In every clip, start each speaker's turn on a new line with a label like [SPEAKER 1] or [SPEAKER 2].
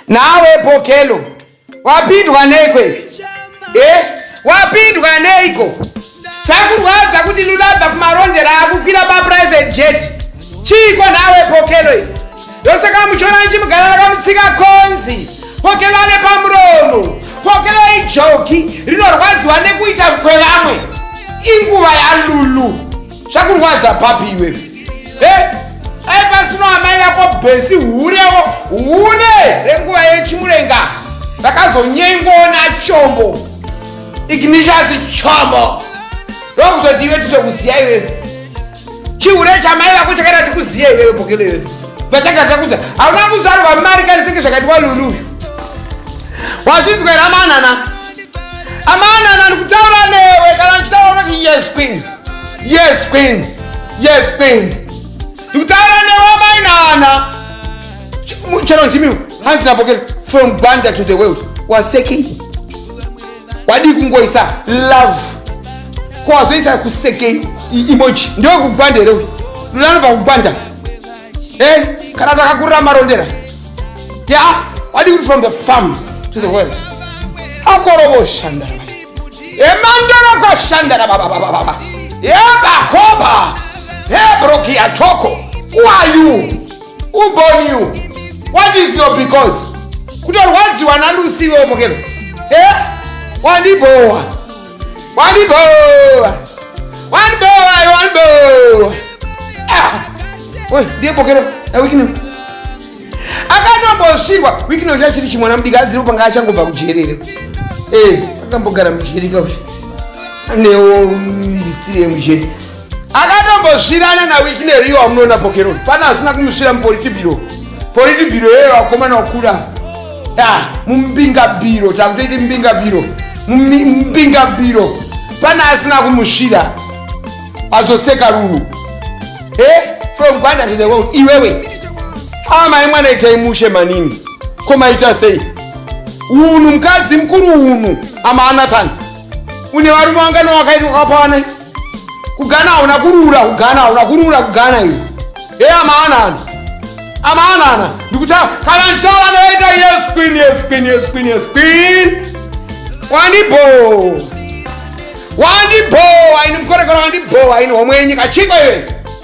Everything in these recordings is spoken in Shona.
[SPEAKER 1] nawe pokelo wapindwa nekwe eh? wapindwa neiko chakurwadza kuti lulabva kumarondera akukwira paprivate jet chiiko nawe pokelo i ndosaka muchiona nchimugara rakamutsika konzi pokelo ane pamuromo pokelo ijoki rinorwadziwa nekuita kwevamwe inguva yalulu zvakurwadza papi iwe he ai pasino amai vako bhesi hurewo hune renguva yechimurenga ndakazonyengoona chombo ignishasi chombo ndokuzoti iwe tizokuziya iwe chihure chamai vako chakaita tikuziya iwewe bokelo iwe vatanga takudza hauna kuzvarwa mari kanisenge zvakatiwa lulu uyu wazvinzwera manana amanana ndikutaura newe kana ndichitaura unoti yes queen yes queen yes queen ndikutaura newamai nana chero ndimi hanzi napokera from banda to the world wasekei wadii kungoisa love kwawazoisa kusekei emoji ndewekugwanda here uyu lulanovakukwanda hey, eh, kana takakurira marondera ya wadi kuti from the farm to the world akorovoshanda emandorokoshanda rabababababa yebakoba hebrokiatoko who are you who born you what is your because kutorwadziwa nalusi iwe omokero e eh? wandibowa wandibhowa wandibhowa iwe wandibhowa Ah! Oi, ndiye pokero na wikino akatombosvirwa wikino ucha chiri chimwana mudiki aziripo panga achangobva kujerere Eh, akambogara mujereka ucha anewo histiri yemujeri akatombosvirana nawiki neriyo wamunoona pokeroni fana asina kumusvira mupolitibiro politibiro yeyo wakomana wakuda ah, mumbingabiro takutoiti mbingabiro mbingabiro fana asina kumusvira azoseka ruru e eh, from gwanda to the world iwewe amai mwana itai mushe manini komaita sei unhu mukadzi mukuru unhu amaanathan une varume wangana wakaitwa kapawanai kugana hauna kurura kugana hauna kurura kugana iwe e amaanana amaanana ndikutaura kana ndichitaura ndoita yes queen yes queen yes queen yes queen wandibo wandibo aini mukorekora wandibo aini homwe yenyika chiko iwe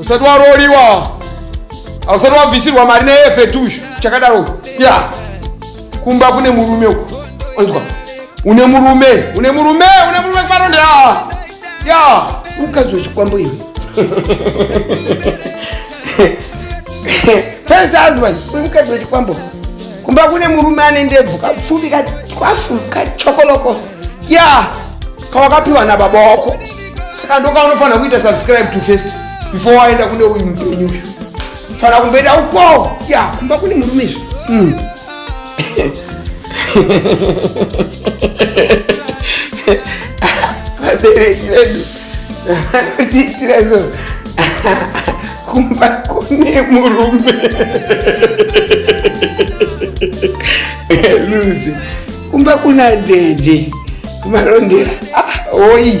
[SPEAKER 1] usati waroliwa ausati wabvisirwa mari neefetushu chakadaro ya kumba kune murume uku onzwa une murume une murume une murume kuvaronda ya mukadzi wechikwambo iwe first husband uri mukadzi wechikwambo kumba kune murume ane ndebvu kapfupi katwafu kachokoloko ya kawakapiwa nababa wako saka ndoka unofanira kuita subscribe to first before waenda kune uyu mupenyu uyu fanira kumboenda uko ya kumba kune murume izvi mm. vabereki vedu vanotiitira so kumba kune murume luzi kumba kuna dede kumarondera ah, oyi